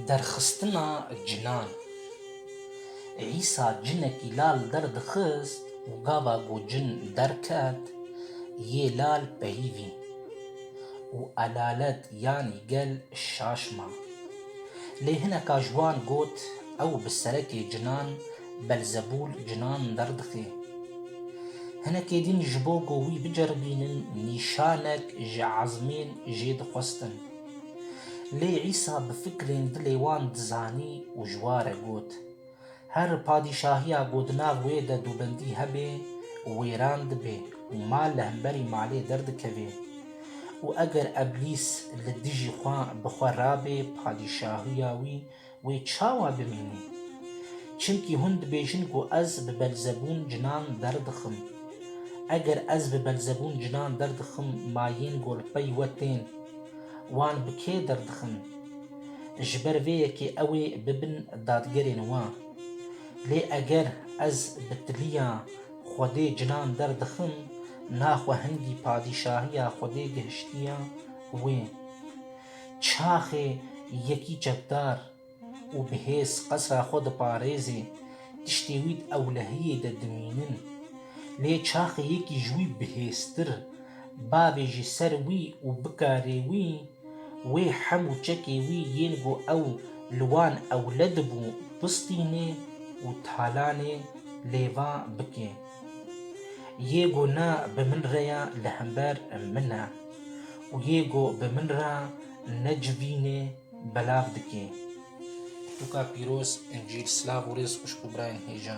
Derxistina cinan. Îsa cinekî lal derdixist û gava ku cin derket yê lal peyivî û elalet yanî gel şaş ma. Lê hineka ji wan got ew bi serekê cinan Belzebûl cinan derdixê. Hinekê din ji bo ku wî biceribînin nîşanek ji ezmên jê dixwestin. Lê Îsa bi fikrên dilê wan dizanî û ji wa re got, Her padîşahiya ku di nav wê de dûbendî hebe wêran dibe û mal li hemberî malê derdikeve. Û eger Eblîs li dijî xwe bi xwe rabê padîşahiya wî Wê çawa bimînî? Çimkî hûn dibêjin ku ez bi Belzebûn cinan derdixim. Eger ez bi Belzebûn cinan derdixim ma yên golpey we tên. Wan bi kê derdixin? Ji ber vê yekê ew ê bibin dadgerên we. Lê eger ez bi tiliya Xwedê cinan derdixim naxwe hingî padîşahiya Xwedê gihiştiye wê. Çaxê yekî çekdar û bi hêz qesra xwe diparêzê, tiştê wî di ewlehiyê de dimînin. Lê çaxê yekî ji wî bi hêztir, bavê jî ser wî û bikarê wî, wê hemû çekê wî yên ku ew li wan ewle dibû bistînê û talanê lêva bike. Yê ku na bi min re ya li hember min e û yê ku bi min re necivînê belav dike. Pirtûka pîroz Încîl Silav û rêz xwişk û birayên hêja.